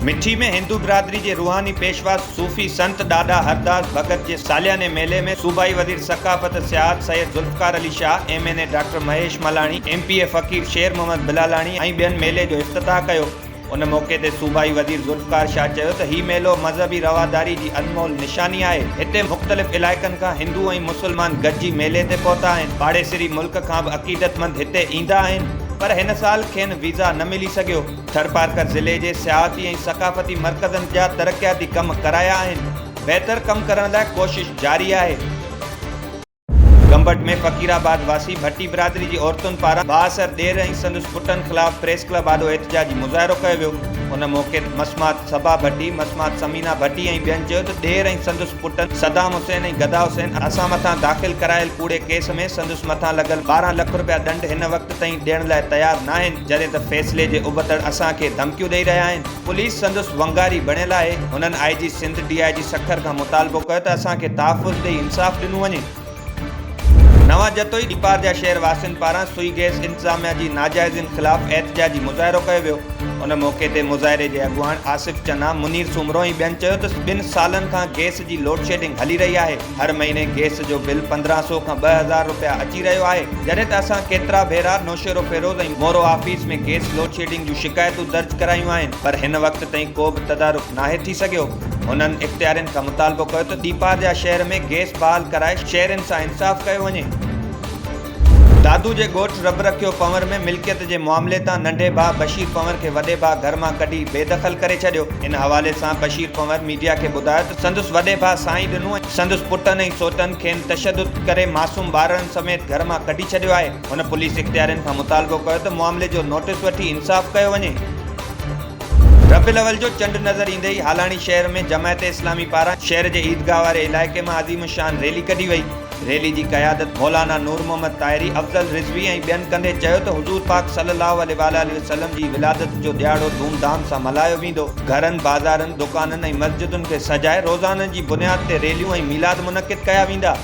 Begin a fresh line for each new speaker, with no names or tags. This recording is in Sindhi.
مٺي ۾ هندو برادري جي روحاني پيشوا صوفي سنت ڏاڏا هرداس ڀڳت جي سالياني ميلي ۾ صوبائي وزير ثقافت سياحت Syed Zulfiqar Ali Shah, M N A doctor Mahesh Malani, M P A Faqir Sher Muhammad Bilalani ۽ ٻين ميلي جو افتتاح ڪيو. ان موقعي تي صوبائي وزير ذوالفقار شاهه چيو ته هي ميلو مذهبي رواداري جي انمول نشاني آهي، هتي مختلف علائقن کان هندو ۽ مسلمان گڏجي ميلي تي پهتا آهن، پاڙيسري ملڪ کان به عقيدتمند هتي ايندا آهن، پر هن سال کين ويزا نه ملي سگهيو، ٿرپارڪر ضلعي جي سياحتي ۽ ثقافتي مرڪزن جا ترقياتي ڪم ڪرايا آهن، بهتر ڪم ڪرڻ لاء ڪوشش جاري آهي. گمبٽ ۾ فقير آباد واسي ڀٽي برادري جي عورتن پاران بااثر ڏير ۽ سندس پٽن خلاف پريس ڪلب آڏو احتجاجي مظاهرو ڪيو ويو ان موقعي تي مسمات صبا ڀٽي، مسمات ثمينه ڀٽي ۽ ٻين چيو ته ڏير ۽ سندس پٽن صدام حسين ۽ گدا حسين اسان مٿان داخل ڪرايل ڪوڙي ڪيس ۾ سندس مٿان لڳل ٻارهن لک رپيا ڏنڊ هن وقت تائين ڏيڻ لاء تيار ناهن جڏهن ته فيصلي جي ابتڙ اسان کي ڌمڪيون ڏئي رهيا آهن. پوليس سندس ونگاري بڻيل آهي، هنن آء جي سنڌ ڊي آء جي سکر کان مطالبو ڪيو ته اسان کي تحفظ ڏئي انصاف ڏنو وڃي. نوان جتوئي ڏيپار جا شهر واسين پاران سوئي گئس انتظاميا جي ناجائزين خلاف احتجاجي مظاهرو ڪيو ويو، ان موقعي تي مظاهري جي اڳواڻ آصف چنا، منير سومرو ۽ ٻين چيو ته ٻن سالن کان گئس جي لوڊشيڊنگ هلي رهي آهي، هر مهيني گيس جو بل پندرهن سئو کان ٻه هزار رپيا اچي رهيو آهي، جڏهن ته اسان ڪيترا ڀيرا Naushahro Feroze ۽ Moro office ۾ gas load shedding جون شڪايتون درج ڪرايون آهن پر هن وقت تائين ڪو به تدارڪ ناهي ٿي سگهيو. هنن اختيارين کان مطالبو ڪيو ته ڏيپارجا شهر ۾ گيس بحال ڪرائي شهرين سان انصاف ڪيو وڃي. دادو جي ڳوٺ رب رکيو پنور ۾ ملڪيت جي معاملي تان ننڍي ڀاء بشير پنور کي وڏي ڀاء گهر مان ڪڍي بي دخل ڪري ڇڏيو. ان حوالي سان بشير پنور ميڊيا کي ٻڌايو ته سندس وڏي ڀاء سائين ڏنو ۽ سندس پٽن ۽ سوٽن کين تشدد ڪري معصوم ٻارڙن سميت گهر مان ڪڍي ڇڏيو آهي. هن پوليس اختيارين کان مطالبو ڪيو ته معاملي جو نوٽيس وٺي انصاف ڪيو وڃي. ربيع الاول جو چنڊ نظر ايندي ئي هالاڻي شهر ۾ جماعت اسلامي پاران شهر جي عيدگاهه واري علائقي مان عظيم الشان ريلي ڪڍي وئي. ريلي جي قيادت مولانا نور محمد طاهري، افضل رضوي ۽ ٻين ڪندي چيو ته حضور پاڪ صلي الله عليه واٰله وسلم جي ولادت جو ڏهاڙو ڌوم ڌام سان ملهايو ويندو، گهرن، بازارن، دڪانن ۽ مسجدن کي سجائي روزانن جي بنياد تي ريليون ۽ ميلاد منعقد ڪيا ويندا.